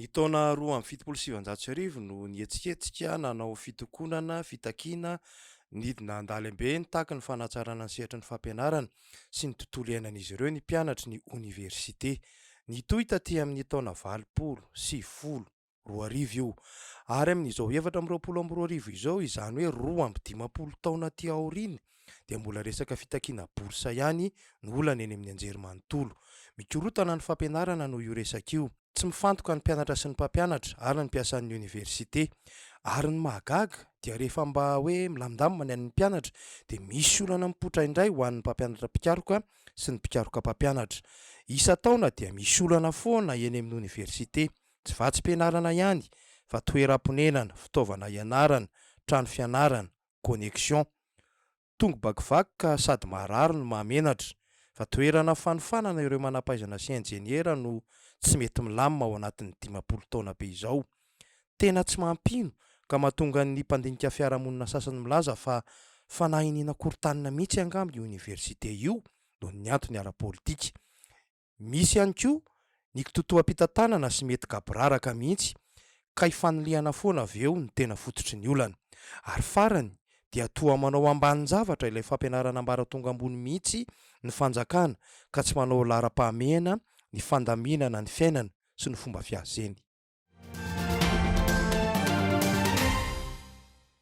Ny taona roa amby fitopolo sy sivinjato sy arivo no nihetsiketsika nanao fitokonana fitakiana nidina an-dalembe nitaky ny fanatsarana ny sehatry ny fampianarana sy ny tontolo iainan'izy ireo ny mpianatry ny oniversite. Nitohy taty amin'ny taona valopolo sy folo. roa arivo io. Ary amin'izao efatra amby roapolo amby roa arivo izao, izany hoe roa amby dimampolo taona aty aoriana, dia mbola resaka fitakiana bourse ihany no olana eny amin'ny anjerimanontolo. Mikorotana ny fampianarana noho io resaka io. Tsy mifantoka ny mpianatra sy ny mpampianatra ary ny mpiasan'ny oniversite. Ary ny mahagaga dia rehefa mba hoe milamindamina ny an'ny mpianatra dia misy olana mipoitra indray ho an'ny mpampianatra mpikaroka sy ny mpikaroka mpampianatra. Isan-taona dia misy olana foana eny amin'ny oniversite. Tsy vatsim-pianarana ihany fa toeram-ponenana, fitaovana ianarana, trano fianarana, connexion. Tongo bakivaky ka sady maharary no mahamenatra. Fa toerana fanofanana ireo manampahaizana sy injeniera no tsy mety milamina ao anatin'ny dimampolo taona be izao. Tena tsy mampino ka mahatonga ny mpandinika fiarahamonina sasany milaza fa fanahy iniana korotanina mihitsy angamba io oniversite io noho ny antony ara-politika. Misy ihany koa ny kitoatoam-pitantanana sy mety gaboraraka mihitsy ka ifanilihana foana avy eo ny tena fototry ny olana. Ary farany dia toa manao ambanin-javatra ilay fampianarana ambaratonga ambony mihitsy ny fanjakana ka tsy manao laharam-pahamehana ny fandaminana ny fiainana sy ny fomba fiazeny.